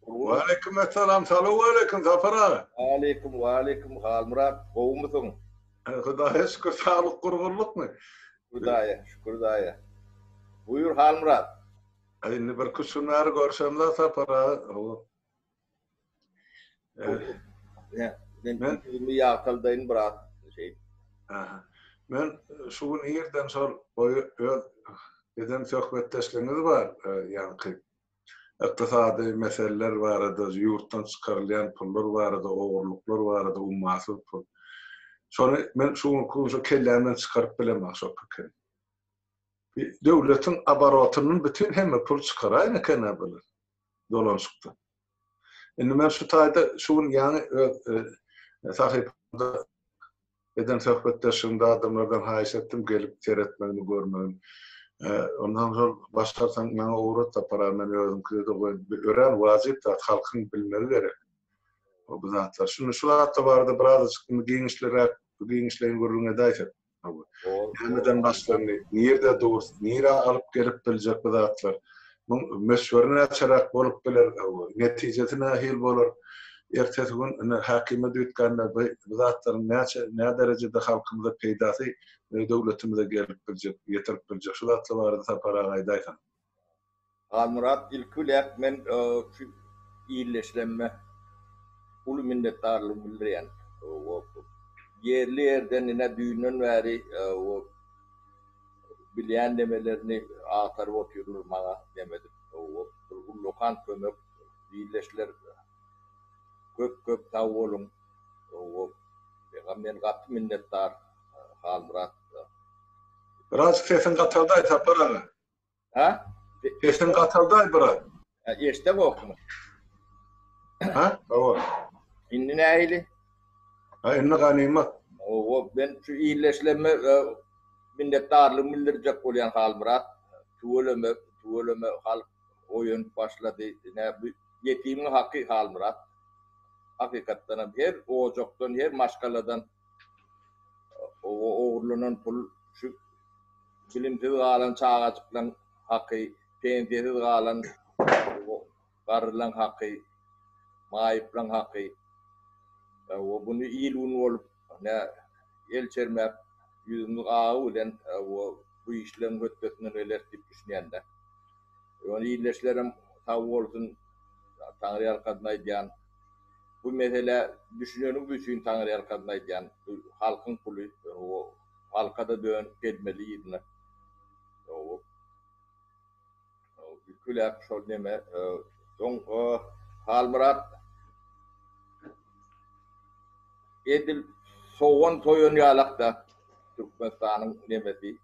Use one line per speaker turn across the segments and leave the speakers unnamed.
Waleýkim essalam, salowaleýkim, Sapar aga! Waleýkim, waleýkim,
Halmyrat, gowumysyň? Hudaýa
şükür, saglyk, gurgunlykmy? Hudaýa şükür
daýy. Buýur, Halmyrat! Indi birki
üç gün bäri görşemzok, Sapar aga.
Men indi ýagtyldaýyn biraz.
Men şu gün irden şol öz eden söhbetdeşligiňiz bar, ýaňky. Ykdysady meseleler barada, ýurtdan çykarylýan pullar barada, ogurlyklar barada, ummasyz pul. Şony men şu günki gün şo kellämden çykaryp bilemek şo pikiri. Bir döwletiň abarotynyň bütin hemme pul çykaraýyn eken-ä bular dolanşykdan. Indi men şu taýda şu gün ýaňy öz sahypamda Eden söhbetdeşligimde adamlardan haýyş etdim, gelip seretmegini, görmegini. Ondan soň başarsaň maňa ugrat tapara, men özümkide-de goýup, örän wajyp zat, halkyň bilmegi gerek bu zatlary. Şunda şu zatlar barada birazajyk indi giňişliräk, giňişleýin gürrüň edäýsek. Näme-näme eden başlandy, nirede dur, nirä alyp gelip biljek bu zatlar? Muň möçberi näçeräk bolup biler, netijesi nähili bolar? Ertesi gün ine häkime düýtgände bu zatlaryň näçe, nä derejede halkymyza peýdasy, döwletimize gelip biljek, ýetirip biljek? Şu zatlar barada Sapar aga aýdaýsaň.
Halmyrat, ilki biläk men şu illeşilemme uly minnetdarlygymy bildirýän. Ýerli ýerden ine düýnden bäri Bilýän nemelerini agtaryp otyrlar maňa demedip bir ullakan kömek birleşdiler köp köp sag boluň Meňa men gaty minnetdar Halmyrat. Biraz
sesiň gataldy Aýsapar aga. Ha?
Sesiň
gataldaý brat. Eşde gokmy? Ha? Hawa. Indi näili?
Ha,
indi ganymat. Owo, men
şu illeşleme minnetdarlyk bildirjek bolýan Halmyrat. Tüweleme, tüweleme halk oýanyp başlady. Ine bu ýetimiň haky Halmyrat. Hakykatdanam her ojakdan, her maşgaladan Ogurlanan pul şu bilimsiz galan çagajyklaň haky, pensiýasiz galan garrylaň haky, maýyplaň haky. Buny il-gün bolup nä el çermäp ýüzümiz agy bilen bu işleň hötdesinden geleris diýip düşünýän-dä. Ýöne ildeşlerem sag bolsun, Taňryýalkasyn aýdýan. Bu meselä düşüneniň üçin taňryýalkasyn aýdýan bu halkyň puly halkada dönüp gelmeli ýerine ülküläp şol neme soň Halmyrat edil sogan soýan ýalakda Türkmenistanyň nemesi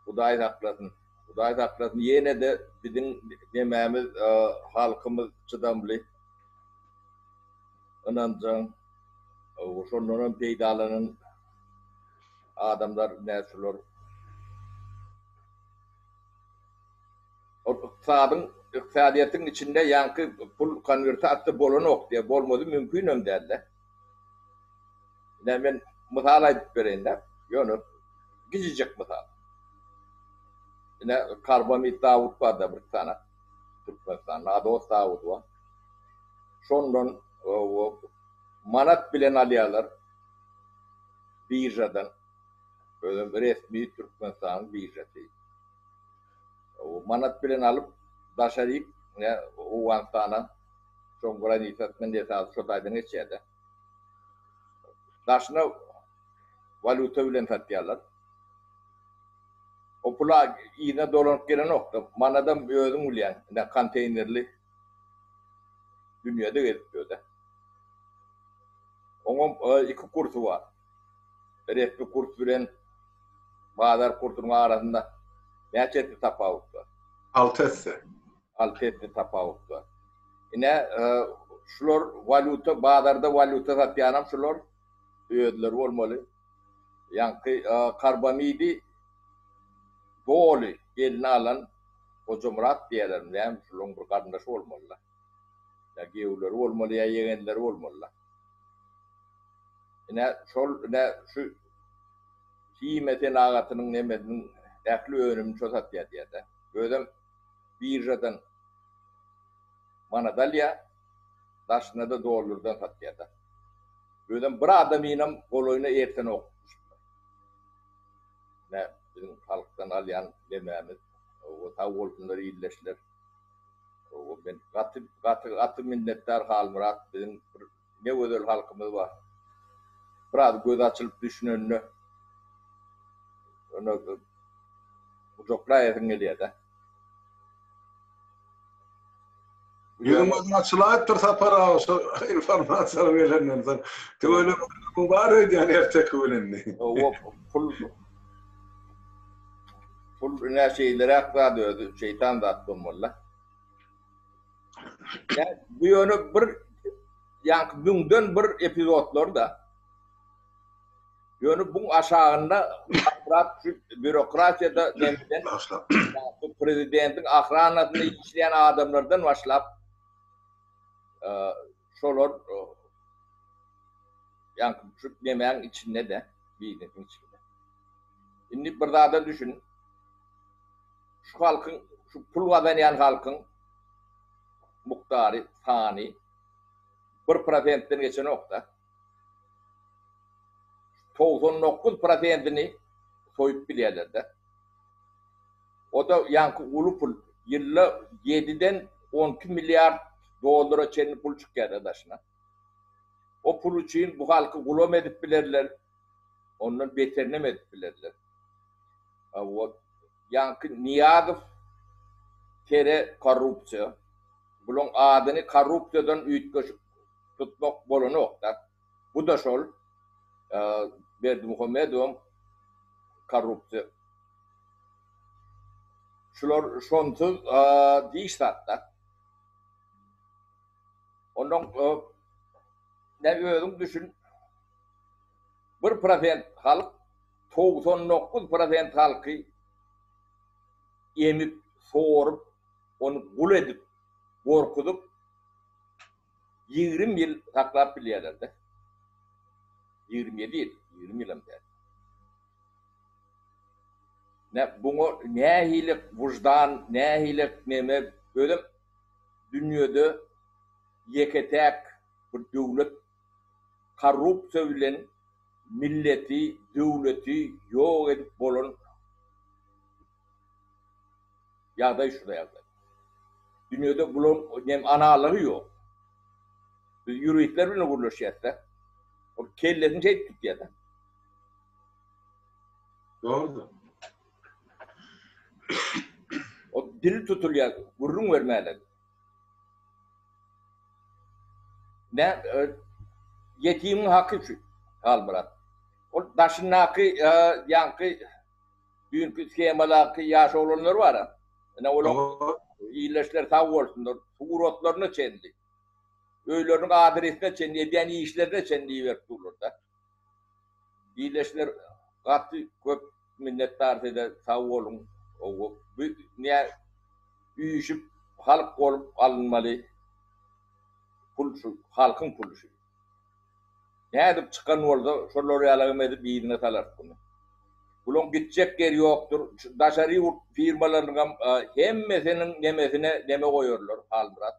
Hudaý saklasyn. Hudaý saklasyn ýenede biziň nemämiz halkymyz çydamly ynanjaň şondan hem peýdalanan adamlar nä şular. Ol ykdysadyň ykdysadyýetiň içinde ýaňky pul konwertasyýa bolanok diýýär bolmady mümkinem dälde. Ine, men mysal aýdyp bereýin-dä, ýöne gijijek mysal. Ine, Karbamid Dawut bar-da bir sany, Türkmenistanda Ados Dawudy bar. Şondan manat bilen alýarlar biržadan, özem resmi Türkmenistanyň biržasy. manat bilen alyp daşa diýip ne owganystana şoň granisasyndan esasy şo taýdan geçýärde daşyna walýuta bilen satýarlar o pula yzyna dolanyp gelenokda manadam özüň bilýäň ine konteýnerli dünýede gezip ýörde oňam iki kursy bar. resmi kurs bilen bazar kursunyň arasynda näçe esse tapawut bar? Alty esse. Alty esse tapawut bar. Ine, şular walýuta, bazarda walýuta satýanam şular özleri bolmaly. Ýaňky karbamidi doly eline alan Hojamyrat diýýärlermi, näme, şularyň bir garyndaşy bolmaly-da. Ýa giýewleri bolmaly, ýa ýegenleri bolmaly-da. Ine, şol, ine, şu himiýa senagatynyň nemesiniň ähli önümini şo satýar diýýär-de. Özem biržadan manada alýar, daşyna-da dollardan satýar-da. Özem bir adamynam golaýyna ertenok düşüpdir. Ine, biziň halkdan alýan nemämiz, o sag bolsunlar ildeşler. Gowy men gaty gaty gaty minnetdar Halmyrat biziň bir ne gözel halkymyz bar. Biraz göz açylyp düşünende ýöne gujaklaýasyň gelýär-de.
Ýüzüň gözüň açylaýypdyr Sapar aga şu informasiýalary gelenden soň. Tüweleme bar öýdýän erteki bilen. Oba pul
Bul ine şeýleräk zat özi şeýtan zat bolmalyda. Ýa bu ýöne bir ýaňky düňden bir epizodlarda ýöne buň aşagynda aşrak düşüp býurokratiýada demeden başlap bu prezidentiň ahranasynda işleýän adamlardan başlap Şolar ýaňky şu nemäň içinde-de, biznesiň içinde. Indi bir zada düşün, şu halkyň, şu pul gazanýan halkyň mukdary, sany bir prosentden geçenok-da. Togsan dokuz prosentini soýup bilýärler-de. O-da ýaňky uly pul. Ýylda ýediden on iki milliard dollara çenli pul çykýar-da daşyna. O pul üçin bu halky gulam edip bilerler, ondan beterinem edip bilerler. O ýaňky Nyýazow tere korrupsiýa. Bulaň adyny korrupsiýadan üýtgeşik tutmak bolanok-da. Bu-da şol Berdimuhamedowyň korrupsiýa Şular şonsuz diş zat-da. Onnoň nä özüň düşün, bir prosent halk togsan dokuz prosent halky emip, sorup, ony gul edip, gorkuzyp, Ýigrimi ýyl saklap bilýärler-dä. Ýigrimi ýedi ýyl, ýigrimi ýylam däl. Nä, buňa nähili wyždan, nähili neme, özem dünýede ýeke-täk bir döwlet korrupsiýa bilen milleti, döwleti ýok edip bolan. Ýagdaý şu ýagdaý. Dünýede bularyň nem analary ýok. Biz ýuristler bilen gürleşýäs-de. Ol kellesini şeýdip tutýa-da.
Dogrudyr.
Ol dili tutulýa, gürrüň bermäne. Nä, ýetimiň haky şu, Halmyrat. Ol daşyndaky, ýaňky, Düýnki skemalaki ýaş oglanlar bar-a. Ine olar ildeşler sag bolsunlar, suratlaryna çenli, öýleriniň adresine çenli, edýän işlerine çenli iberip durlar-da. Ildeşler gaty köp minnetdar size, sag boluň. Bu nä üýşüp halk bolup alynmaly pul şu halkyň puly şu. Nädip çykan bolsa, şolar ýalagam edip yzyna salarys buny. Bulaň gitjek ýeri ýokdur. Şu daşary ýurt firmalarynyňam hemmesiniň nemesine neme goýarlar, Halmyrat.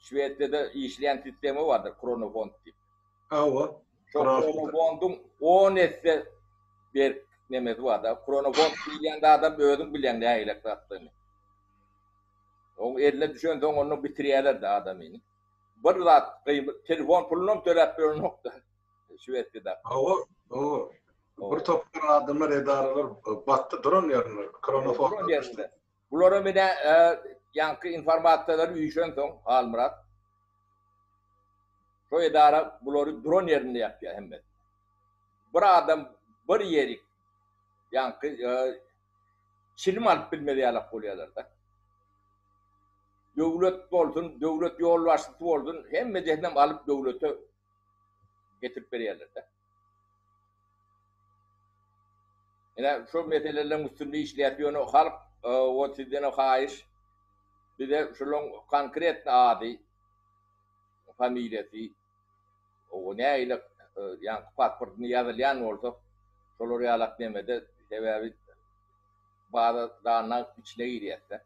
Şwesiýada işleýän sistema bardyr, kronofond diýip. Hawa.
Şo
kronofondyň on esse berk nemesi barda. Kronofond diýilýän zadam özüň bilýäň nähilek zatdygyny. Oň eline düşensoň, onda bitirýärler-de adamyny. Bir zat gymmat telefon pulunam töläp berenokda şwesiýada. Hawa hawa bir topar
adamlar edaralar batdy duran ýerinde koronaformda düşdi. Bulara
menä ýaňky informasiýalar üýşen soň Halmyrat şo edara bulary duran ýerinde ýapýar hemmesini. Bir adam bir ýerik ýaňky çilim alyp bilmez ýalak bolýalar-da. Döwlet bolsun, döwlet ýolbaşçysy bolsun, hemmedesinem alyp döwlete getirip berýärler-de. Ine, şol meseleleriň üstünde işleýäs, ýöne halk o sizdenem haýyş, bize şularyň konkretno ady, familiýasy, O nägile ýaňky pasportyny ýazylýan bolsak, şolar ýalak nemede sebäbi baza danyň içine girýäs-dä.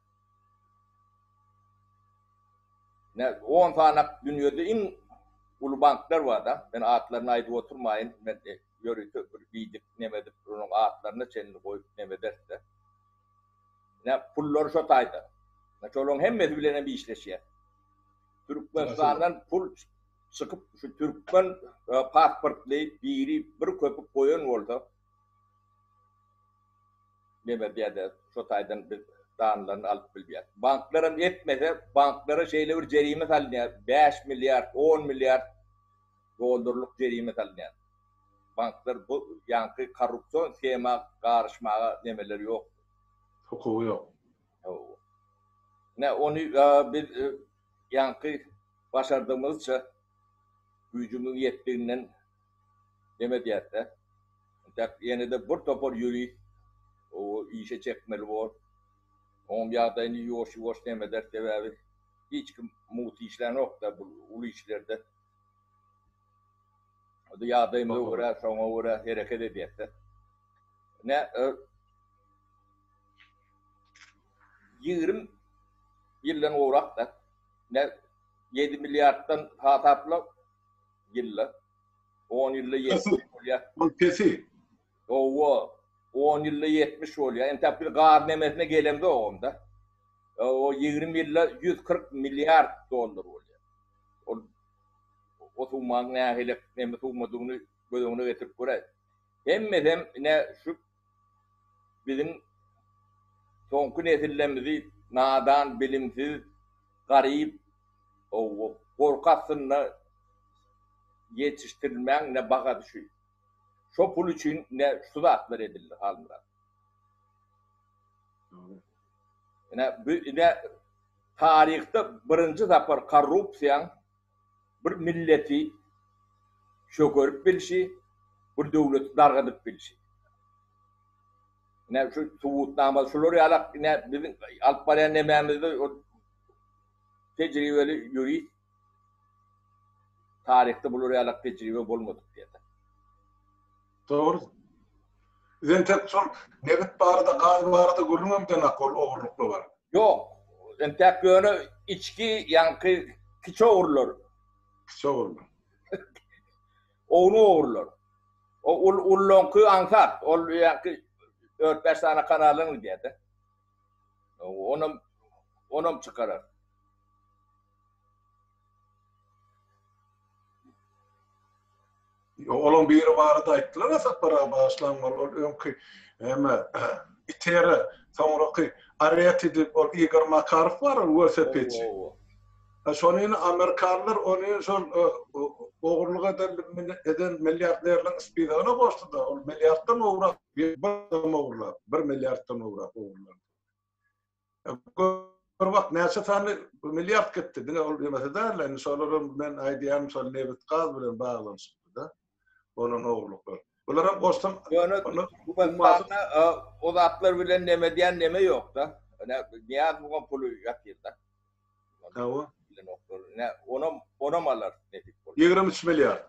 Nä on sanak dünýede iň uly banklar bar-da, men atlaryny aýdyp oturmaýyn, men ýörite bir biýdik nemedik onuň atlaryna çenli goýup nemederis-dä. Näme, pullar şo taýdan. Ýa şolaryň hemmesi bilen hem işleşýäs. Türkmenistandan pul çykyp, şu türkmen pasportly biri bir köpük goýan bolsa, näme diýýärdi, şo taýdan biz danlaryny alyp bilýäs. Banklar hem etmese, banklara şeýle bir jerime salynýar, bäş milliard, on milliard dollarlyk jerime salynýar. banklar bu ýaňky korrupsion shema garyşmaga nemeleri ýok. Hukugy ýok.
Hawa.
Ine ony biz ýaňky başardygymyzça güýjümiň ýetdiginden neme edýäsde. Intäk ýenede bir topar ýurist işe çekmeli bor. Onuň ýagdaýyny ýuwaş-ýuwaş neme eder sebäbi hiç kim mugt işlänokda bu uly işlerde. Ýa ýagdaýyma görä, şoňa görä hereket edýäs-dä. Ine, ýigrimi ýyldan gowrak-da. Ine, ýedi milliarddan hasapla ýylda. On ýylda ýetmiş bolýar. Ol pesi.
Howwa,
on ýylda ýetmiş bolýar. Entäk biz gaz nemesine gelemzogam-da. O ýigrimi ýylda ýüz kyrk milliard dollar bolýar. Ol o summanyň nähili neme summadygyny göz öňüne getirip göräý. Hemmesem ine şu biziň soňky nesillermizi nadan, bilimsiz, garyp, howwa, gorky astynda ýetişdirilmäň ine bahasy şu. Şo pul üçin ine şu zatlar edildi Halmyrat. Ine bu ine taryhda birinji sapar korrupsiýaň bir milleti çökerip bilşi, bir döwleti dargadyp bilşi. Ine şu subutnama şular ýalak ine biziň alyp barýan nemämizde ol tejribeli ýurist Taryhda bular ýalak tejribe bolmadyk diýerler.
Dogry. Bizem tek şol nebit barada, gaz barada gürrüňem deňak ol ogurlykly bar. Ýok.
Entäk ýöne içki ýaňky kiçi ogurlar. Kiçi ogurlar. Ownuň ogurlar. O ul ullaňky aňsat. Ol ýaňky dört bäş sany kanalyň diýerdi. Onam onam çykarar.
Olaň biri barada aýtdylar Asatbaryga bagyşlan bol ol öňki näme itere soňraky areti dip ol Igor Makarow bar ol welosipedçi. Ha şony indi amerikanlar ony şol ogurlyk eden eden milliarderleriň spizagyna goşdyda ol milliarddan gowrak bir ogurlap bir milliarddan gowrak ogurlap. Bir wagt näçe sany milliard gitdi, diňe ol ýemese däl-de, indi şolaram men aýdýan şol nebit-gaz bilen baglanyşykly-da bolan ogurlyklar. Bularam goşsam, ýöne
o zatlar bilen neme edýän neme ýok-da. Ine, Nyýazowyň puly ýatyr-da. Hawa.
Bilenoklar.
Onam, onam alar nesip bolsa. Ýigrimi üç
milliard.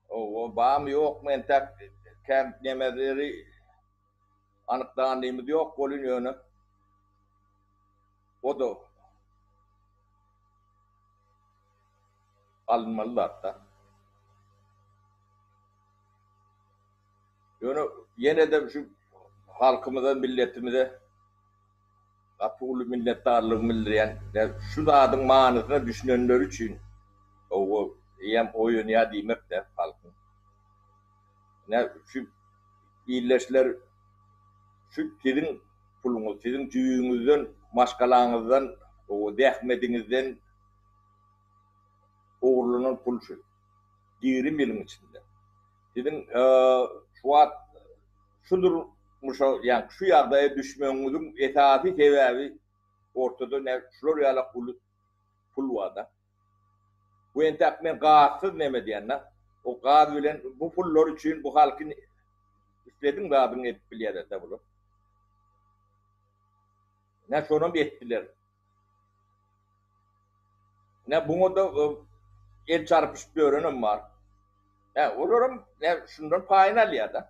Hawa,
barmy, ýokmy entäk kän nemeleri anyklanymyz ýok welin ýöne o-da alynmaly zat-da. Ýöne ýene-de şu halkymyza, milletimize. Gaty uly minnetdarlygymy bildirýän we şu zadyň manysyna düşünenleri üçin gowy eýýäm oýanýar diýmekde halkyň. Ine şu ildeşler şu siziň puluňyz siziň jübüňizden maşgalaňyzdan gowy zähmediňizden ogurlanan pul şu. Ýigrimi ýylyň içinde. Siziň şu wagt Şu durmuşa, ýa şu ýagdaýa düşmegiňiziň esasy sebäbi ortada nä şular ýala uly pul barda. Bu entäk men gazsyz neme diýenda, o gaz bilen bu pullar üçin bu halky islediň zadyňy edip bilýärerda bular. Nä şonam etdiler. Ine, buňa-da el çarpyşyp ýörenem bar. Hä, olaram şundan paýyny alýar-da.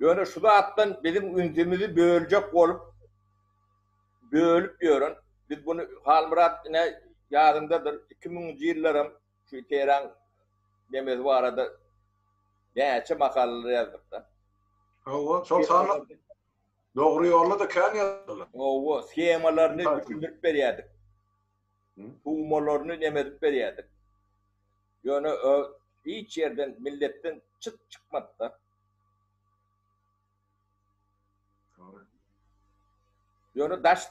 Ýöne şu zatdan biziň ünsümizi böljek bolup, bölüp ýören, biz muny Halmyrat, ine, ýadyňdadyr, iki müňünji ýyllaram şu iterän nemesi barada näçe makalalar ýazdyk-da. Hawa, şol
sanda Dogry ýolda-da kän ýazylýar. Hawa, shemalaryny
düşündirip berýärdik. Tuwmalaryny neme edip berýärdik. Ýöne hiç ýerden milletden çyt çykmady-da. Ýöne daş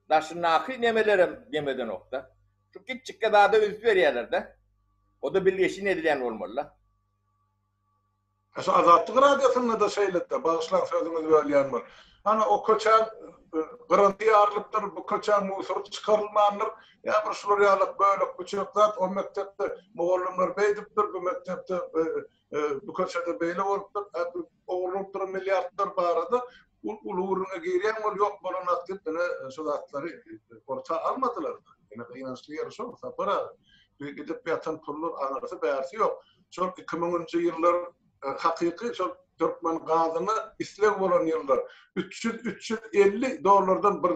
daşyndaky nemelerem neme edenok-da. Şu kiçjikge zada üns berýärler-de. O-da bilgeşin edilýän bolmaly-da.
Şu Azatlyk Radiosynda-da şeýle-de, bagyşlaň sözüňizi bölýän bolup. Hany o köçä gyryndy ýarylypdyr, bu köçä musor çykarylmandyr, ýa bir şular ýaly bölek-büçek zat, o mekdepde mugallymlar beýdipdir, bu mekdepde, bu köçede beýle bolupdyr, ogurlanypdyr milliardlar barada uly gürrüňe girýän bolup, ýok bolan zat diýip ine şu zatlary orta almadylar-da. Ine gynançly ýeri şol, Sapar aga. Gidip ýatan pullar aňyrsy-bärsi ýok. şol iki müňünji ýyllar hakyky şol türkmen gazyna isleg bolan ýyllar üç ýüz üç ýüz elli dollardan bir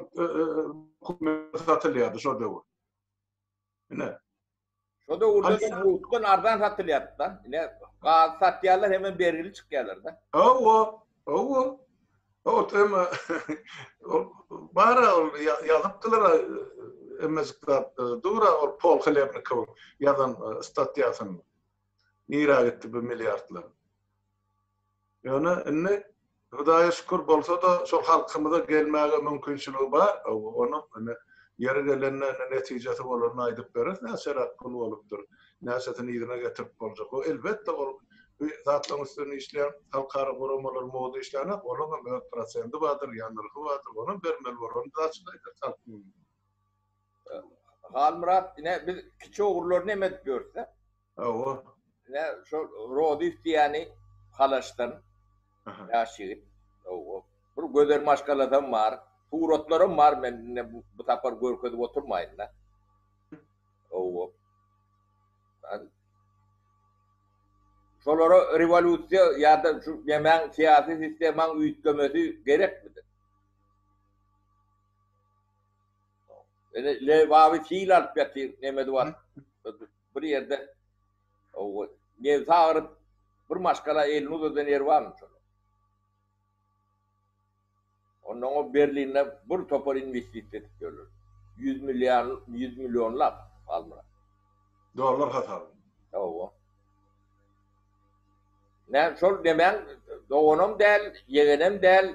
kubmetre satylýardy şo döwür ine
şo döwürde ýurtdan arzan satylýardy da ine gaz satýarlar hemem bergili çykýarlar da hawa Hawa. Ot emma ol bara ol ýazypdylar emmejik zat dura ol Pol Hlebnikowyň ýazan statýasyny. Nirä gitdi bu milliardlar? Ýöne indi Hudaýa şükür bolsa-da şol halkymyza gelmäge mümkinçiligi bar. Hawa, onuň indi ýeri gelende netijesi bolanda aýdyp bereris näçeräk pul bolupdyr. näçesini yzyna getirip boljak. Bu elbetde ol bu zatlaryň üstünde işleýän halkara guramalar moda işlänok, olaryň hem öz prosendi bardyr, ýa nyrhy bardyr, ony hem bermeli bolar, ony biz açyk aýdarys halk. Halmyrat ine biz kiçi ogrular neme edip ýörüsä? Hawa.
Ine şol
Rodif diýýäni Halaşdan ýaş ýigit. Hawa. Bir gözel maşgalasam bar. Suratlaram bar men indi bu sapar görkezip oturmaýyn-da. Hawa. Ýa-da şolara rewolýusiýa ýa-da şu nemäň syýasy sistemaň üýtgemesi gerekmidi? Ine Lebaby sil alyp ýatyr nemesi bar. Bir ýerde hawa nebsi agyryp bir maşgala elini uzadan ýeri barmy şonuň? Ondan gowy Berlinde bir topar inwestisiýa edip ýörler. Ýüz milliar, ýüz millionlap, Halmyrat. Dollar
hasaby. Hawa.
Men şol nemäň doganam däl, ýegenem däl,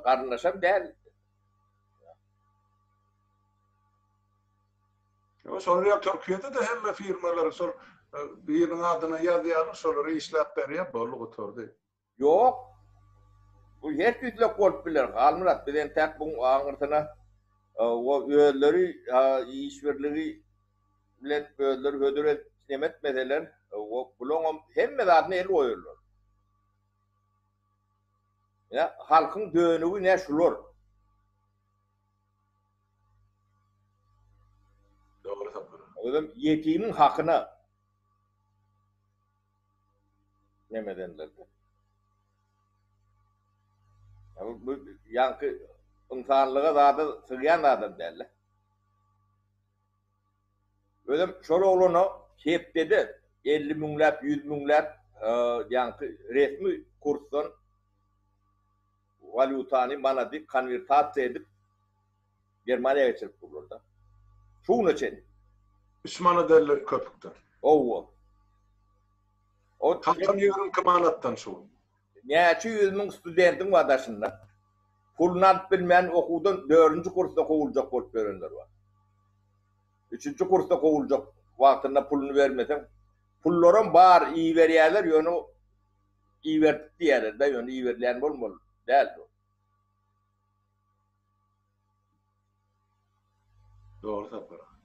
garyndaşam däl. Ýa
şol ýer Türkiýede-de hemme firmalary şol biriniň adyna ýazýarlar, şolara işläp berýär, boldy gutardy. Ýok.
Bu her tüýslek bolup biler, Halmyrat. Biz entäk buň aňyrsyna o özleri iş birligi bilen özleri hödür edip nemetmeseler, o bulaňam hemme zadyna el goýarlar. Ine, halkyň dönügi ine şular.
Dogry sapar. Özem ýetimiň
hakyna. nemedenlerde. Ýa bu ýaňky ynsanlyga zada sygýan zadam däldi. Özem şol oglana hepdede elli müňläp, ýüz müňläp ýaňky resmi kursdan walýutany, manady konwertasiýa edip, Germaniýa geçirip durlar da. Şu güne çen. Üç manat
elli köpükden. Howwa. Kalkan ýigrimi iki manatdan şu gün. Näçe ýüz
müň studentiň bar daşynda. Puluny alyp bilmän okuwdan dördünji kursda kowuljak bolup ýörenler bar. Üçünji kursda kowuljak wagtynda puluny bermeseň. Pullaram bar iberýärler ýöne iberdik diýýärler-de ýöne iberilýän bolmaly däl-de ol.
Dogry Sapar aga.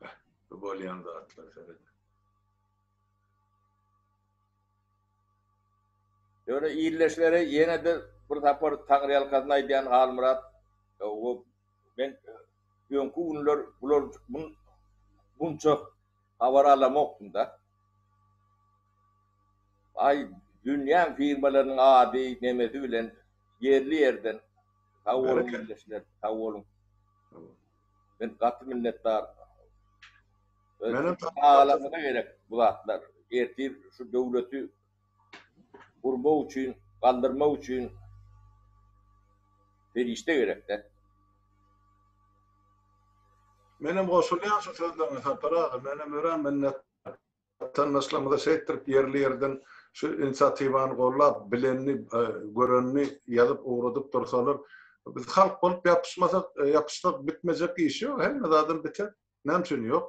Beh, bu bolýan zatlar seret.
Ýöne ildeşlere ýene-de bir sapar taňryýalkasyn aýdýan Halmyrat men öňki günler bular bunça Habar alamokdym-da. Aý, dünýäň firmalarynyň ady, nemesi bilen ýerli ýerden sag boluň ildeşler, sag boluň. Men gaty minnetdar.
Öz çagalaryňyza
gerek bu zatlar. Ertir şu döwleti urmak üçin, galdyrmak üçin serişde gerekdä.
Menem goşulýan şu sözleriňe Sapar aga, menem örän minnetdar. Watandaşlarymyza şeýtdirip ýerli ýerden şu inisiatiwany gollap, bilenini, görenini ýazyp ugradyp dursalar, biz halk bolup ýapyşmasak, ýapyşsak bitmejek iş ýok, hemme zadam biter. Näme üçin ýok?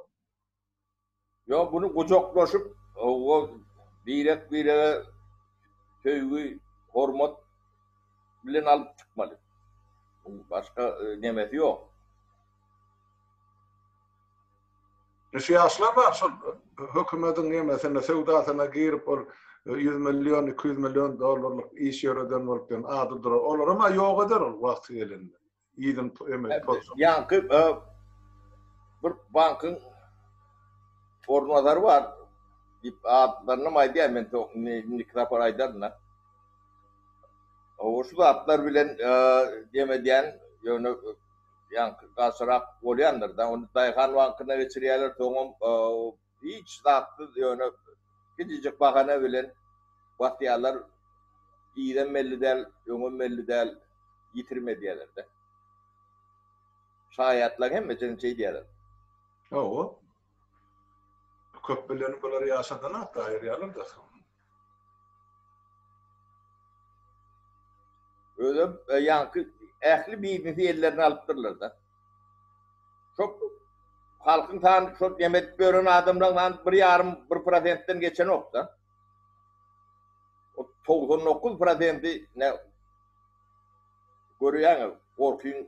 Ýok, muny gujaklaşyp, hawa, birek-birege söýgi, hormat bilen alyp çykmaly. Munuň başga nemesi ýok.
Şu ýaşlar bar, şol hökümediň nemesine, söwdasyna girip, ol ýüz million, iki ýüz million dollarlyk iş ýöreden bolup, ýöne ady durar. Olaram-a ýok eder ol wagty gelende. yzyň ömür tolsun. Ýaňky
bir bankyň orunbasary bar diýip adlarynam aýdýar men soň indiki sapar aýdaryn-da. Şu zatlar bilen dem edýän ýöne ýaňky galçyrak bolýandyr-da. Ony daýhan bankyna geçirýärler soňam Hiç zatsyz ýöne kiçijik bahana bilen batýarlar yzam belli däl öňem belli däl ýitirim edýärlerde. Şaýatlaň hemmesini şeýdýärler. Hawa.
Köp bilen bular ýaşadana taýýar ýalarda.
Özem ýaňky ähli biznesi ellerine alypdyrlar-da. Şo halkyň sany şo nem edip ýören adamlaryň sany bir ýarym bir prosentden geçenok-da. Ol togsan dokuz prosenti ne görýäňiz gorkyň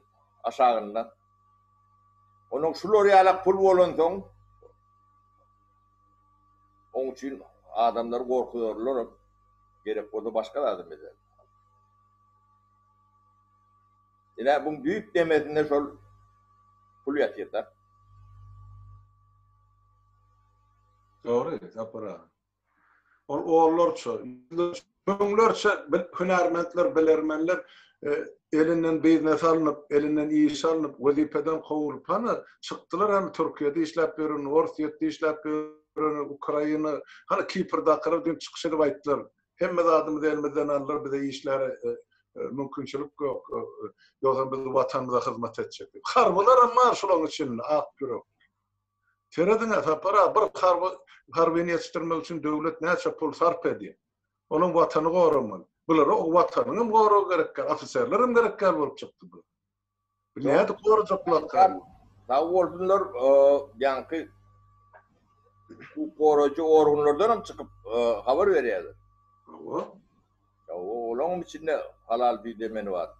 aşagynda. Onuň şular ýala pul bolansoň. Oň üçin adamlary gorkuzarlaram, gerek bolsa başga zadam ederler. Ine, buň düýp demesinde şol pul ýatyr-da. Dogry, Sapar
aga. Ol onlarça, ýüzlerçe. Müňlerçe hünärmentler, bilermenler elinden biznes alnyp, elinden iş alnyp, wezipeden kowulyp, hany, çykdylar, hany, Türkiýede işläp ýören, Orsýetde işläp ýören, Ukraina, hany, Kiprdakylar diýip çykyş edip aýtdylar, hemme zadymyzy elimizden aldylar, bize işläre mümkinçilik ýok, ýogsam biz watanymyza hyzmat etjekdik. Harbylaram bar şolaryň içinde ak ýürekli. Serediň-ä, Sapar aga, bir harby harbyny ýetişdirmek üçin döwlet näçe pul sarp edýär. Olam Watany goramaly. Bulara o Watanyň hem goragy gerek däl, ofiserler hem gerek däl bolup çykdy bular. Bu nädip gorajak bu Watany? Sag
bolsunlar, ýaňky hukuk goraýjy organlardan hem çykyp habar berýärler. Hawa. Olaňam içinde halal düýe demeni bar.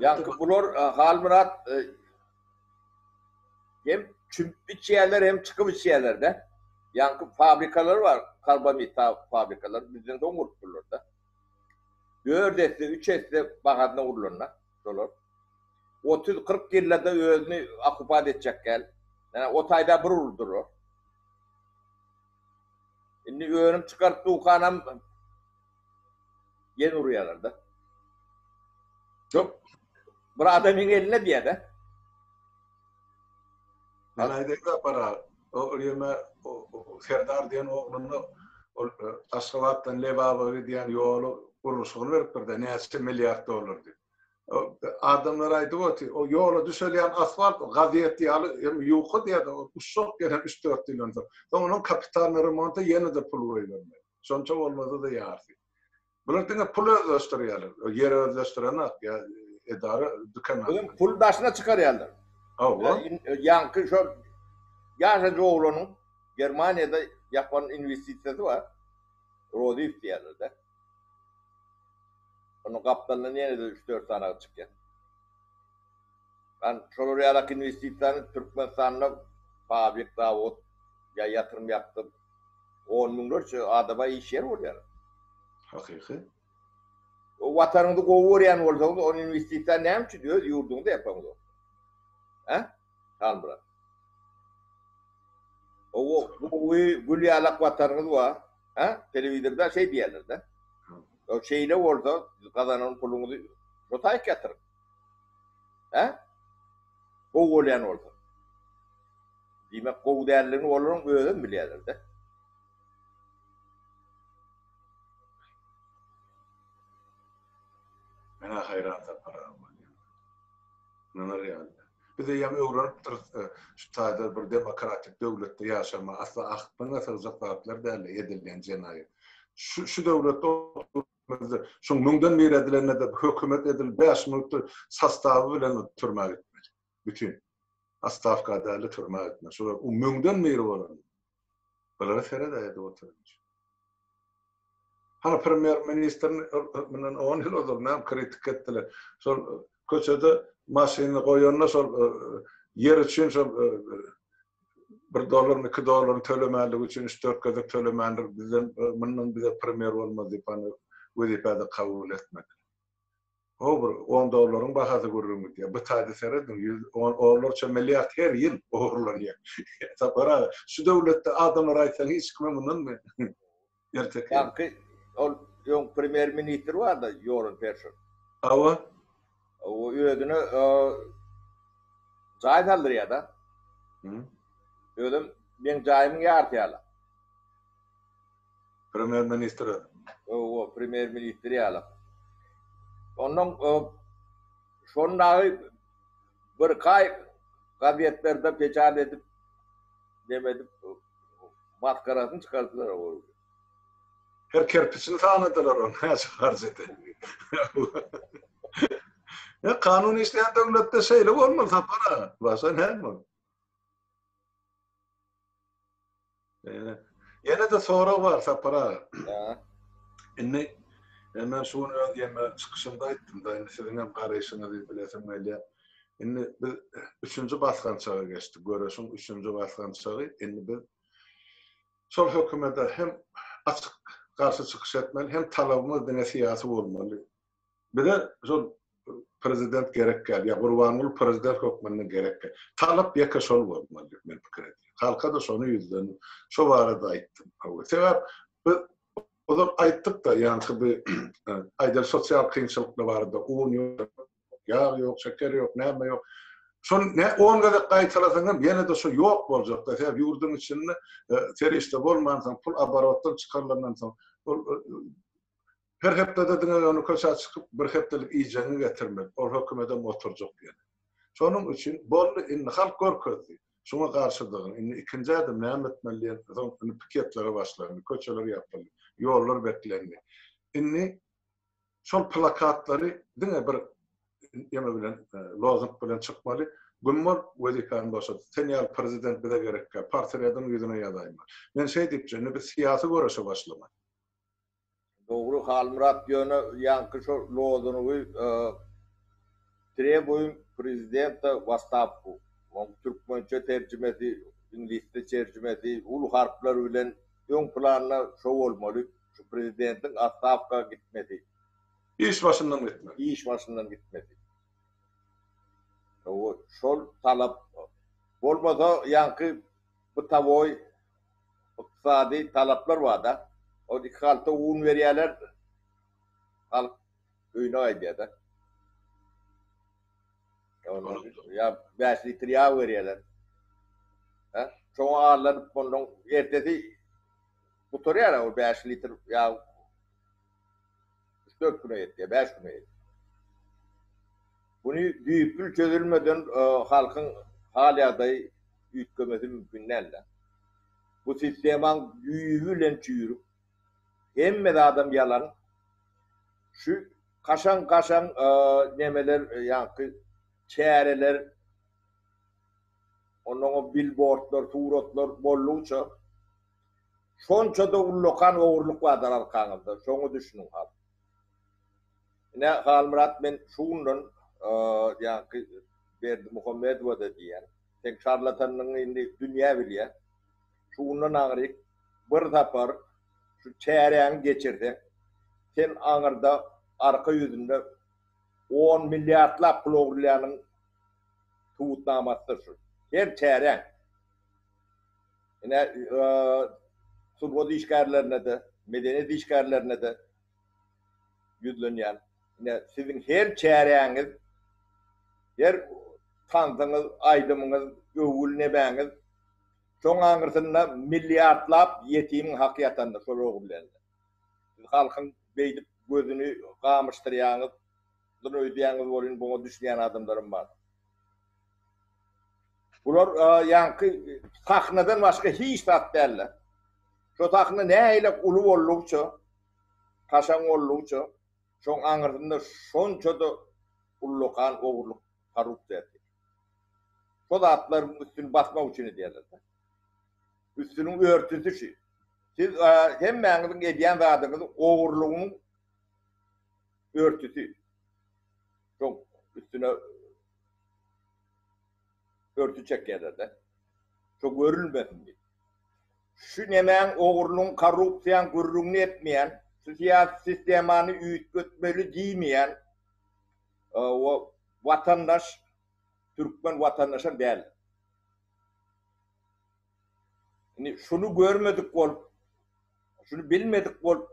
Ýaňky bular Halmyrat hem çümüp içýärler hem çykyp içýärler-de. Ýaňky fabrikalar bar, karbamid fabrikalary bizden soň gurup bular-da. Dört esse, üç esse bahasyna gurlan-da. şolar. Otuz, kyrk ýyllada özüni okupat etjek gel. Ýa o taýda bir urup durar. Indi önüm çykaryp dukanam ýene urýarlar-da. Şo bir adamyň elinde diýýä-de.
Galaýda gidip barar. O ýerime Serdar diýen ogluna ol Aşgabatdan Lebaba gidýän ýoly gurluşygyny beripdir-de, näçe milliard dollar diýip. Adamlar aýdyp oty, o ýola düşelýän asfalt gazet ýaly hem ýuka diýer-de, ol uşak ýene üç-dört ýyldan soň. Soň onuň kapitalnyý remonta ýene-de pul goýbermeli. Şonça bolmasa-da ýarsy. Bular diňe pul özleşdirýärler. Ýer özleşdirenok ýa edara dükan. Özüm pul daşyna
çykarýarlar. Hawa. Ýaňky şo ýaşajy oglanyň Germaniýada ýapan inwestisiýasy bar. Roziýew diýýärler-de. Onuň gapdalyndan ýene-de üç-dört sany adam çykýar. Ýani şolar ýaly inwestisiýany Türkmenistanda fabrik, zawod ýa ýatyrym ýapdyryp, On müňlerçe adama iş ýer bolýar. Hakyky. O watanyňyzy gowy görýän bolsaňyz, ony inwestisiýa näme üçin öz ýurduňyzda ýapaňyz ony? Hä? Halmyrat. O gowy gül ýaly ak watanyňyz bar. Hä? Telewizorda şeý diýýärler-de. O şeýle bolsa, gazanan puluňyzy şo taýyk ýatyryň. Hä? Gowy bolýan bolsa. Diýmek, gowy däldigini olaryň özem bilýärler-dä.
Men-ä haýran Sapar aga bolýan. Ynanar ýaly däl. Biz eýýäm öwrenipdiris, şu taýda bir demokratik döwletde ýaşamagy asla akylyňa sygjak zatlar däl-de edilýän jenaýat. Şu döwletde oturyp Mejlisimizde şoň müňden biri edilende-de hökümet edil bäş müňlükdir sostawy bilen türmä gitmeli. Bütin. Astawka däli türmä gitmeli. Şolar u müňden biri bolan. Bulara seredä edip oturynç. Hany premýer ministrni bilen on ýyl ozal näme kritik etdiler. Şol Köçede maşynyny goýanda şol ýer üçin şol bir dollarmy, iki dollarmy tölemänligi üçin üç-dört gezek tölemändir. Bizden mundan bize primer bolmaz diýip ony wezipä-de kabul etmediler. Ho bir on dollaryň bahasy gürrüň gidýär. Bu taýda serediň, ýüz on onlarça milliard her ýyl ogurlanýar. Sapar aga, şu döwletde adamlara aýtsaň hiç kime mundan Erteki. Ýaňky
ol öň premýer ministr barda Ýoran Perşer. Hawa.
O
özüne jaý saldyrýada. Hı. Özüm meň jaýymyň ýarty ýala.
Premýer ministr. Owa,
premýer ministr ýala. Ondan şon dagy bir kaý gazetlerde peçat edip, demedip, Maskarasyny çykardylar ol.
Her kerpiçini sanadylar ol näçe harjady. Ya kanun işleyen döwletde şeýle bolmaly Sapar aga. Başga näme ol? Ýene ýene de sorag bar Sapar aga. Indi men şu gün öz ýeme çykyşymda aýtdym-da, indi siziň hem garaýşyňyzy bilesim gelýär. Indi biz üçünji basgançaga geçdik. Göreşiň üçünji basgançagy. Indi biz şol hökümete hem açyk garşy çykyş etmeli, hem talabymyz diňe syýasy bolmaly. Bize şol prezident gerek däl, ýa Gurbanguly prezident hökmünde gerek däl. Talap ýeke şol bolmaly diýip men pikir edýän. Halka-da şony ýüzlendim. Şo barada aýtdym. Sebäp biz ozal aýtdyk-da, ýaňky bir aýdan sosial kynçylyklar barada, un ýok, Ýag ýok, şeker ýok, näme ýok. Şony ne on gezek gaýtalasaň hem ýene-de şo ýok boljakda. Sebäbi ýurduň içinde serişde bolmansoň, pul oborotdan çykarylandan soň, ol her hepdede diňe ýöne köçä çykyp, bir hepdelik iýjegiňi getirmeli. Ol hökümetem oturjak ýene. Şonuň üçin boldy, indi halk görkezdi. Şuňa garşydygyny. Indi ikinji ädim näme etmeli diýen soň, indi piketlere başlandy. Köçeler ýapyldy. Ýollar beklendi. Indi Şol plakatlary diňe bir ýeme bilen, lozung bilen çykmaly. Gümmur wezipäni boşat. Sen ýaly prezident bize gerekkä. Portretiň ýüzüne ýazaýma. Men şeý diýipjä, indi biz syýasy göreşe başlamaly.
Dogry Halmyrat ýöne ýaňky şo lozungy Trebuyň prezidenta w astawku. Oň türkmençe terjimesi, iňlisçe çerjimesi uly harplar bilen öň planda şo bolmaly, şu prezidentiň astawka gitmesi. Iş
başyndan gitmesi. Iş başyndan gitmesi.
W şol talap bolmasa ýaňky bytawoý ykdysady talaplar barda, ol iki halta un berýärler, halk. öýüne gaýdýar-da. Ýa bäş litr ýag berýärler. Hä? Şoňa allanyp ondan ertesi gutarýar-a o bäş litr ýag. Üç-dört güne ýetýär, bäş güne ýetýär. Muny düýpli çözülmeden halkyň hal-ýagdaýy üýtgemesi mümkin däl-de. Bu sistemaň düýbi bilen çüýrük, Hemme zadam ýalan. Şu kaşaň-kaşaň nemeler ýaňky çäreler onnoňam bilbordlar, suratlar bollugyça şonça-da ullakan ogurlyk bardyr arkaňyzda. Şoňa düşüniň has. Ine, Halmyrat men şu günler ýaňky Berdimuhamedowa-da diýýän. Seň şarlatanlygyňy indi dünýä bilýär. Şundan aňryk bir sapar şu çäräňi geçirseň, sen aňyrda arka ýüzünde on milliardlap pul ogurlanyň subutnamasydyr şu. Her çäräň. Ine, sungat işgärlerine-de, medeniýet işgärlerine-de ýüzlenýän. Ine, siziň her çäräňiz, her tansyňyz, aýdymyňyz, öwgüli nemäňiz, Şoň aňyrsynda milliardlap ýetimiň haky ýatanda şol ogullerde. Siz halkyň beýdip gözüni gamyşdyrýaňyz, dyn öýdýäňiz welin buňa düşünýän adamlaram bar. Bular ýaňky sahnadan başga hiç zat däldir. Şo sahna nähili uly boldugyça, kaşaň boldugyça, şoň aňyrsynda şonça-da ullakan ogurlyk, korrupsiýa. şo zatlaryň üstüni basmak üçin edýärler-de. Üstüniň örtüsi şu. Siz hemmäňiziň edýän zadyňyz ogurlygyň örtüsi. Şoň üstüne örtü çekýärler-de. Şo görülmesin diýip. Şu nemäň ogurlygyň, korrupsiýaň gürrüňini etmeýän, şu syýasy sistemany üýtgetmeli diýmeýän, O watandaş türkmen watandaşam däl. Indi şuny görmedik bolup, şuny bilmedik bolup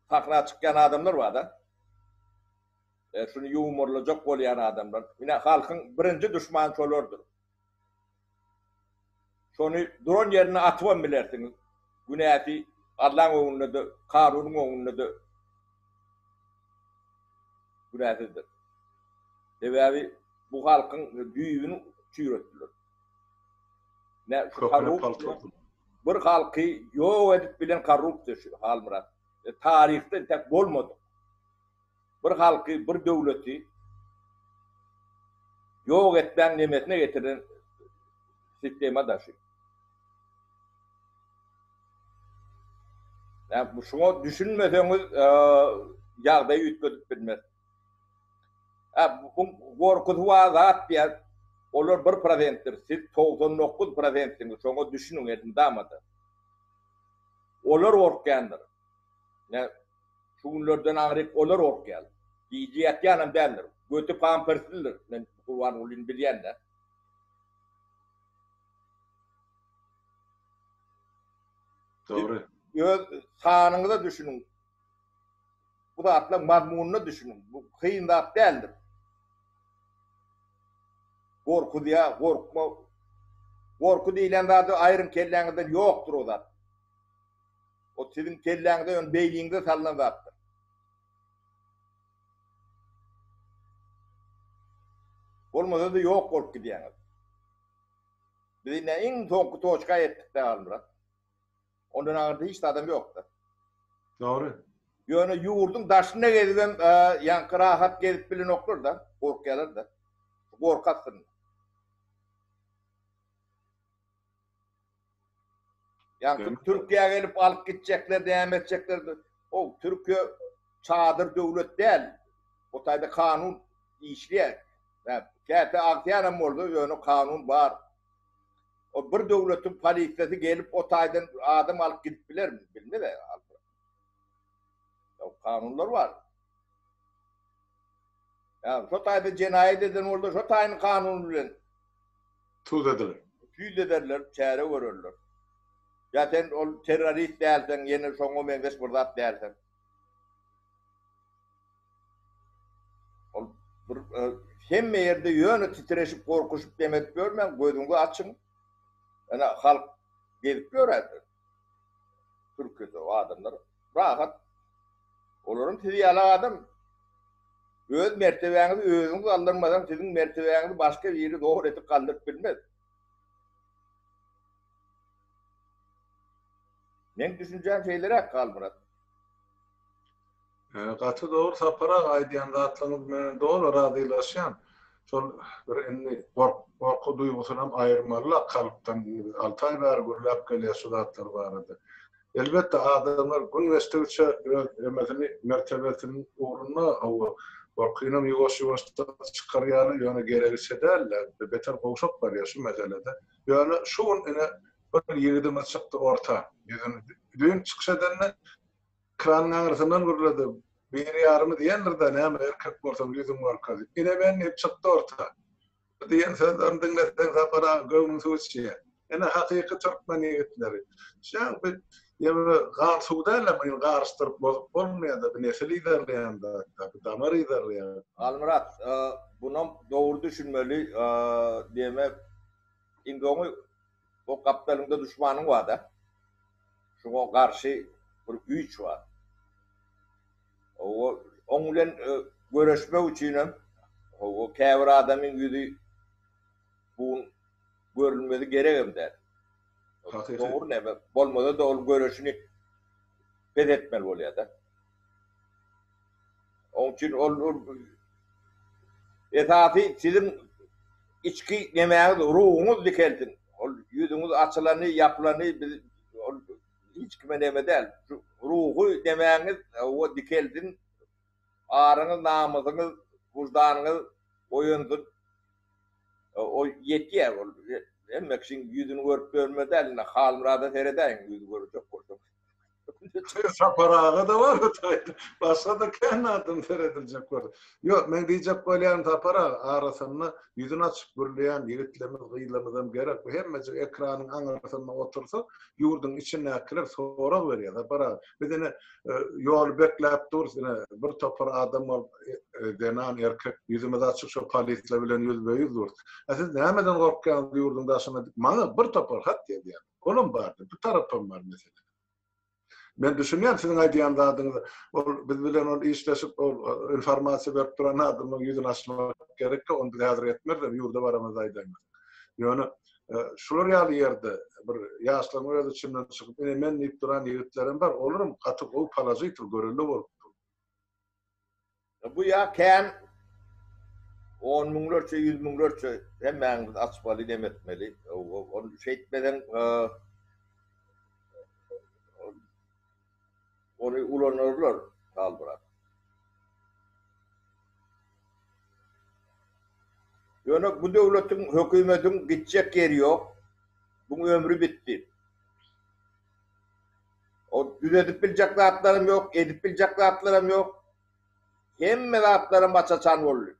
sahna çykýan adamlar barda. Şuny ýumorlajak bolýan adamlar. Ine halkyň birinji duşmany şolardyr. Şony duran ýerinde atybam bilersiňiz. Günäsi Allaň öňünde-de, kanunyň öňünde-de günäsizdir. Sebäbi bu halkyň düýbüni çüýretdiler. Ine şu korrupsiýa bir halky ýok edip bilen korrupsiýa şu Halmyrat. Taryhda intäk bolmadyk. bir halky, bir döwleti ýok etmäň nemesine getiren sistema da şu. Ýa şuňa düşünmeseňiz ýagdaýy üýtgedip bilmez. Ä bu gorkusy bar zat diýýär. Olar bir prosentdir. Siz togsan dokuz prosentsiňiz. Şoňa düşüniň elmydama-da. Olar gorkýandyr. Şu günlerden aňryk olar gorkýar. Gije ýatýanam däldir. Göti pamperslidir. Men Gurbangulyny bilýän-dä.
Dogry. Öz
sanyňyza düşüniň. Bu zatlaryň mazmunyna düşüniň. Bu kyn zat däldir. Gorkuzýa, gorkma. Gorky diýlen zady aýryň kelläňizden ýokdur o zat. O siziň kelläňize ýöne beýniňize salnan zatdyr. Bolmasa-da ýok bolup gidýäňiz. Biz indi iň soňky toçka ýetdik-de Halmyrat. Ondan aňyrda hiç adam ýokdy. Dogry.
Ýöne
ýurduň daşynda gezibem, ýaňky rahat gezip bilenoklar-da, gorkýarlar-da. Gorky astynda. Ýaňky Türkiýä gelip alyp gitjekler näme etjekler o Türkiýe çadyr döwlet däl bu taýda kanun işleýär käte agtyýanam boldy ýöne kanun bar o bir döwletiň polisiýasy gelip o taýdan adam alyp gidip bilermi bilmez kanunlar bar. Ýa-da şo taýda jenaýat eden bolsa, şo taýyny kanun bilen
tüzederler. Tüzederler,
çäre görerler. Ýa sen ol terrorist dälseň, ýene şoňa meňzeş bir zat dälseň. Ol bir hemme ýerde ýöne titreşip, gorkuşyp, dem edip ýörmäň, gözüňizi açyň. Ene, halk gezip ýör häzir. Türkiýede o adamlar rahat. Olaram siz ýaly adam. Öz mertebäňizi özüňiz galdyrmasaň, siziň mertebäňizi başga biri zor edip galdyryp bilmez. Meň düşünjäm şeýleräk Halmyrat.
Gaty dogry Sapar aga aýdýan zatlaryňyz menen doly razylaşýan. Şol bir indi gorky duýgusynam aýyrmalyla kalpdan alty aý bäri gürläp gelýär şu zatlar barada. Elbetde adamlar gün geçdigiçe öz emesini mertebesini ugrunda hawa gorkynam ýuwaş ýuwaşdan çykarýarlar ýöne geregiçe dälde beter gowşap barýar şu meselede. Ýöne şu gün ine bir ýigidimiz çykdy orta ýüzüni düýn çykyş edende Kranyň aňrysyndan gürledi. Biri ýarymy diýendir-dä, näme, erkek bolsaň, ýüzüň görke. Ine, men diýip çykdy orta. Bu diýen sözlerini diňleseň, Sapar aga, göwnüň suw içýär. Ine, hakyky türkmen ýigitleri. Şaň bir ýene gan suw däl-ä, muny garyşdyryp bozup bolmaýar-da, bu nesil yzarlaýan zat-da, bu damar yzarlaýan. Halmyrat,
bunam dogry düşünmeli, diýmek, indi oňy O gapdalyňda duşmanyň bar-da. Şoňa garşy bir güýç bar. Hawa, oň bilen göreşmek üçinem, hawa, käbir adamyň ýüzi bu gün görülmesi geregem däl. Hakyky. Dogry näme, bolmasa-da ol göreşini pes etmeli bolýar-da. Onuň üçin ol esasy siziň içki nemäňiz, ruhuňyz dikelsin. Ol ýüzüňiz açylany, ýapylany biz ol hiç kime neme däl. Şu ruhy nemäňiz hawa dikelsin. Aryňyz, namysyňyz, wyždanyňyz oýansyn. O ýetýär ol. Hemme kişiň ýüzüni görüp dönme däl. Indi Halmyrada seredäýiň ýüz görjek bolsaňyz. Çöýe
Sapar aga da bar o taýda. Başga da kän adam serediljek bor. Ýok, men diýjek bolýan Sapar aga, arasynda ýüzüni açyp gürleýän ýigitlerimiz, gyzlarymyzam gerek. Bu hemmejik ekranyň aňyrsynda otursa, ýurduň içindäkiler sorag berýär, Sapar aga, biz ine ýoly bekläp durus, ine bir topar adam bolup, zenan, erkek, ýüzümiz açyk şo polisler bilen ýüzbe-ýüz durus. A siz nämeden gorkýaňyz ýurduň daşyna diýip, maňa bir topar hat ýazýar. Olam bardy. Bu tarapam bar meselenin. Men düşünýän siziň aýdýan zadyňyzy. Ol biz bilen ol işleşip ol informasiýa berip duran adamyň ýüzüni açmak gerekki. Ony biz häzir etmeris. Ýurda baramyzda aýdaýmarys. Ýöne şular ýaly ýerde bir ýaşlaryň öz içinden çykyp ine men diýip duran ýigitlerem bar. Olaram gaty gowy položitel görelde bolup
Bu ýa kän on müňlerçe, ýüz müňlerçe hemmäňiz açmaly, nem etmeli. Ony şeýtmeseň ony ulanarlar Halmyrat. Ýöne bu döwletiň, hökümediň gitjek ýeri ýok. Buň ömri bitdi. Ol düzedip biljek zatlaram ýok, edip biljek zatlaram ýok. Hemme zatlaram aç-açan boldy.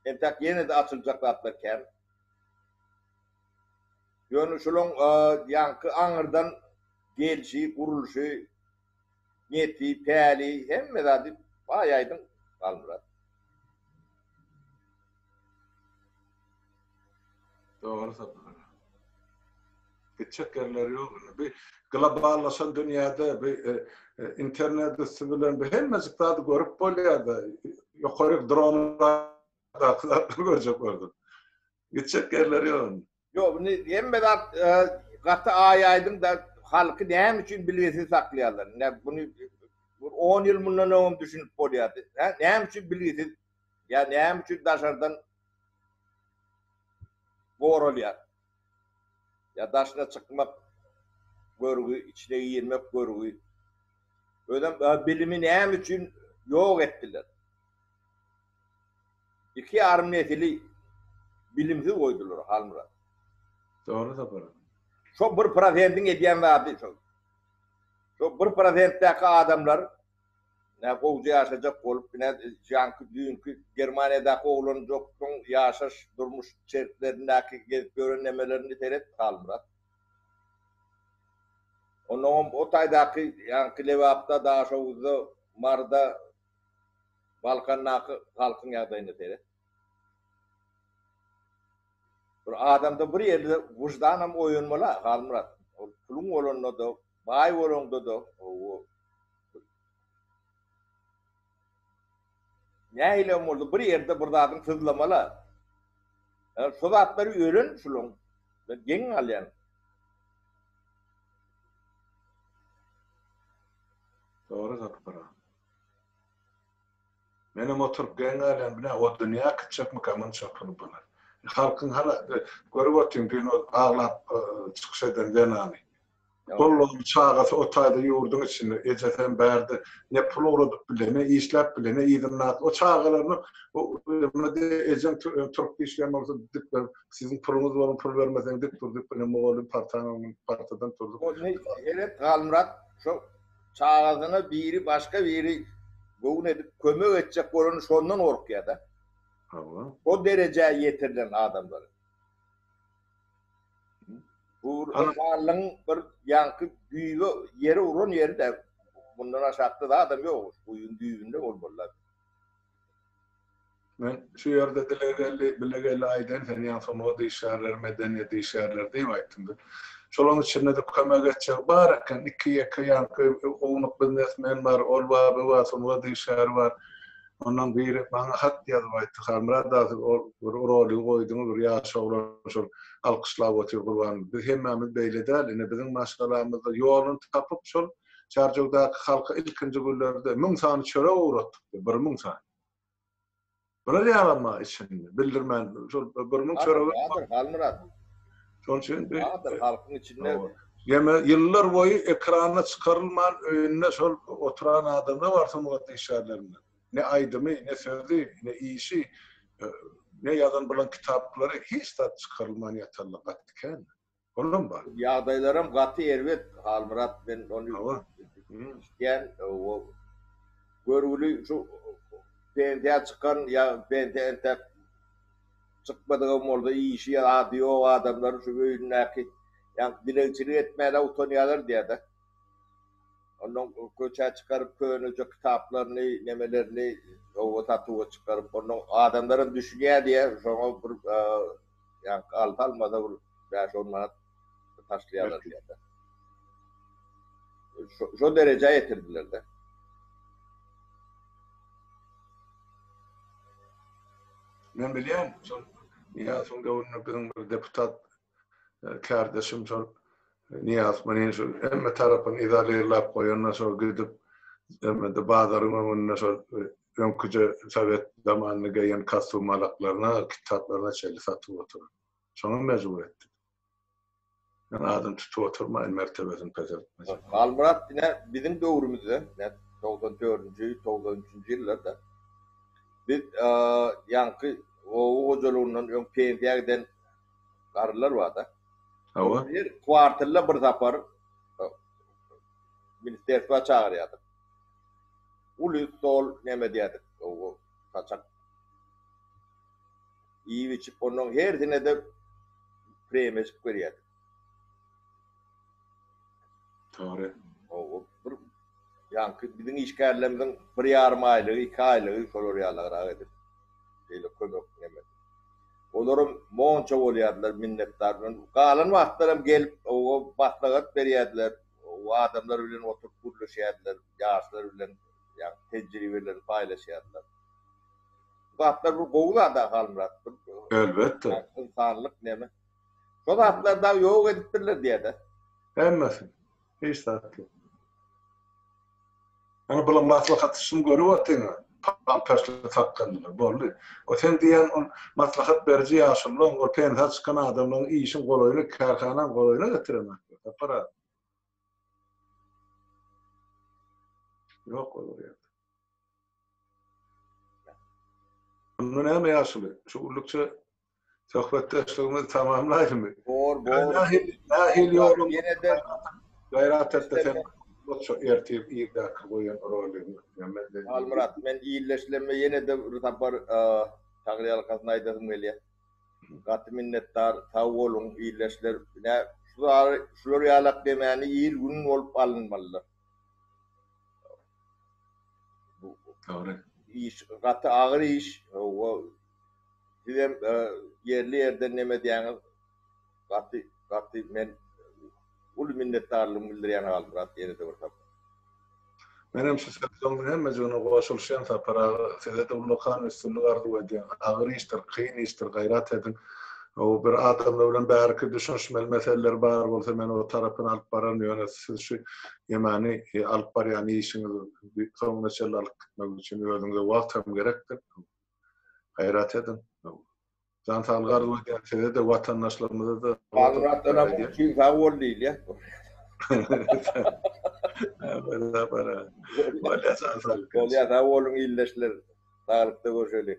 Entek ýene-de açyljak zatlar kän. Ýöne şularyň ýaňky aňyrdan gelşi, gurluşy, neti, päli, hemme zady baý aýdyň Halmyrat.
Dogry Sapar aga. Gitjek ýerleri ýok indi. Bu globallaşan dünýäde bu internet üsti bilen bu hemmejik zady görüp bolýar-da. Ýokaryk dronlardaky zatlary görjek boldum. Gitjek ýerleri ýok indi. Ýok, indi hemme
zat gaty aýaýdyň-da, halky näme üçin bilgisiz saklaýarlar? Indi muny bir on ýyl mundan öňem düşünip bolýardy. Näme üçin bilgisiz ýa näme üçin daşardan goralýar? Ýa daşyna çykmak görgi, içine girmek görgi. Özem bilimi näme üçin ýok etdiler? Iki ýarym nesili bilimsiz goýdular, Halmyrat. Dogry
Sapar. Şo bir
prosentiň edýän zady şol. Şo bir prosentdäki adamlar nä gowja ýaşajak bolup, nä janky düýnki Germaniýadaky oglanjyklaň ýaşaş, durmuş şertlerindäki gezip ýören nemelerini seret, Halmyrat. Onnoňam o taýdaky ýaňky Lebapda, Daşoguzda, Maryda, Balkandaky halkyň ýagdaýyna seret. Bir adamda bir ýerde wyždanam oýanmaly-a, Halmyrat. Ol puluň bolanda-da, baý bolanda-da, hawa. Nähilem bolsa bir ýerde bir zadyň syzlamaly-a. Ýöne şo zatlary ölen şulaň bilen geň galýan.
Dogry gapygyran. Menem oturyp geň galýan bile o dünýä gitjekmika munça puly bolan. Halkyň hala görüp otyň düýn ol aglap çykyş eden zenany. Gollugyň çagasy o taýda ýurduň içinde ejesi hem bärde ne pul ugradyp bile ne işläp bile ne yzyndaky o çagalaryna muny de ejeň turup işleýän bolsa dik dur siziň puluňyz bolan pul bermeseň dik dur diýip mugallym partaň öňünde partadan turdy. Ol ne eden
Galmyrat şo çagasyna biri başga biri göwün edip kömek etjek bolany şondan gorkýada. Hawa. O derejä ýetirlen adamlar. Bu ynsanlygyň bir ýaňky düýbi ýere uran ýeri-de. Mundan aşakda zadam ýok. Guýyň düýbünde bolmalylar.
Men şu ýerde Dilegeldi, Bilegeldi aýdaýyn, sen ýaňy sungat işgärleri, medeniýet işgärleri diýip aýtdyň biz. Şolaň içinde-de kömek etjegi bar eken, iki-ýeke ýaňky ownuk biznesmen bar, ol bar, bu bar, sungat işgäri bar. Ondan biri maňa hat ýazyp aýtdy, Halmyrat aga, siz ol bir roligy goýduňyz, bir ýaş oglan şol alkyşlap otyr Gurbanow. Biz hemmämiz beýle däl, ine biziň maşgalamyzda ýoluny tapyp şol Çärjewdaky halka ilkinji günlerde müň sany çörek ugratdyk, bir müň sany. Bular ýalama içinde, bildirmän, şol bir müň çöregi. Bardyr, Halmyrat.
Şonuň
üçin bir. Bardyr, halkyň içinde.
Ýene ýyllar
boýy ekrana çykarylman, öýünde şol oturan adamlar bar sungat işgärlerinden. Ne aýdymy, ne sözi, ne işi, ne ýazan bilen kitaplary hiç zat çykarylman ýatanlar gaty kän. Olam bar. Ýagdaýlaram gaty
erbet Halmyrat men ony eşitýän o görgüli şu pensiýa çykan ýa pensiýa entäk çykmadygam bolsa işi ýa ady ýok adamlaryň şu öýündäki ýa dilegçilik etmäne utanýarlar diýada. Ondan köçä çykaryp köneje kitaplaryny nemelerini oba satuwa çykaryp ondan adamlaram düşünýä diýä şoňa bir Ýaňky alty almada bir bäş-on manat taşlaýarlar diýende. Şo derejä ýetirdiler-de.
Men bilýän, şol Niýazowyň döwründe biziň bir deputat kärdeşim şol Niýaz Manin şol hemme tarapyny izolerläp goýanda şol gidip, hemme-de bazaryň öňünde şol öňküje sowet zamanynda geýen kostum-alaklaryna, kitaplaryna çenli satyp oturan. Şoňam mejbur etdik. Men adam tutup oturmaýyn mertebesini peseltmek üçin. Halmyrat diňe
biziň döwrümizde, nädip, togsan dördünji, togsan üçünji ýyllarda biz ýaňky oba hojalygyndan öň pensiýa giden garrylar bar-da. Hawa. Her kwartalda bir sapar ministrerstwa çagyrýardyk. Uly stol näme diýerdik gowy saçak iýip içip ondan hersinede premeşik berýärdik.
Togry. Gowy
bir ýaňky biziň işgärlerimiziň bir ýarym aýlygy iki aýlygy şolar ýalagrak edip şeýle kömek näme. Olaram monça bolýardylar minnetdar bilen galan wagtlaram gelip gowy maslahat berýärdiler. Bu adamlar bilen oturyp gürleşýärdiler, ýaşlar bilen ýagny tejribelerini paýlaşýardylar. Bu zatlar bir gowy zad-a Halmyrat. Elbetde.
Ynsanlyk neme.
Şo zatlary dagy ýok edipdirler diýä-de. Hemmesini.
Hiç zat ýok. Ýöne bular maslahaty şum görüp otyňa, paltaşlyk sakgallylar, boldy. O sen diýýän ol maslahat beriji ýaşululaň, ol pensa çykan adamlaň işiň golaýyna, kärhanaň golaýyna getiren atlar, Sapar aga. Ýok olar ýerde. Onda näme ýaşuly, şu gullikçe Söhbetdeşligimizi tamamlaýmy? Bor, bor. Nahil ýolum. Ýene-de
gaýrat etde
sen bolsa ertir irgäki goýan rolyň. Halmyrat,
men illeşlemde ýene-de bir sapar taňryýalkasyn aýdasym gelýär. Gaty minnetdar, sag boluň, illeşler. Ine, şular ýalak demany il-gün bolup alynmalydyr.
Bu iş
gaty agyr iş. Hawa. Sizem ýerli ýerden neme edýäňiz gaty gaty men uly minnetdarlygymy bildirýän Halmyrat ýenede bir sapar.
Menem şu sözleriň hemmejigine goşulyşýan Sapar aga sizede ullakan üstünlik arzuw edýän agyr işdir kyn işdir gaýrat ediň ow bir adamlar bilen bäriki düşünişmeli meseleler bar bolsa men o tarapyny alyp bararyn ýöne siz şu ýemany alyp barýan işiňizi soňuna çenli alyp gitmek üçin özüňize wagt hem gerekdir. Gaýrat ediň. Jan saglygy arzuw edýän size-de, watandaşlarymyza-da. Bagratdanam üçin
sag bol diýilýär. Bolýa
sag
boluň ildeşler.
Saglykda
görşeliň.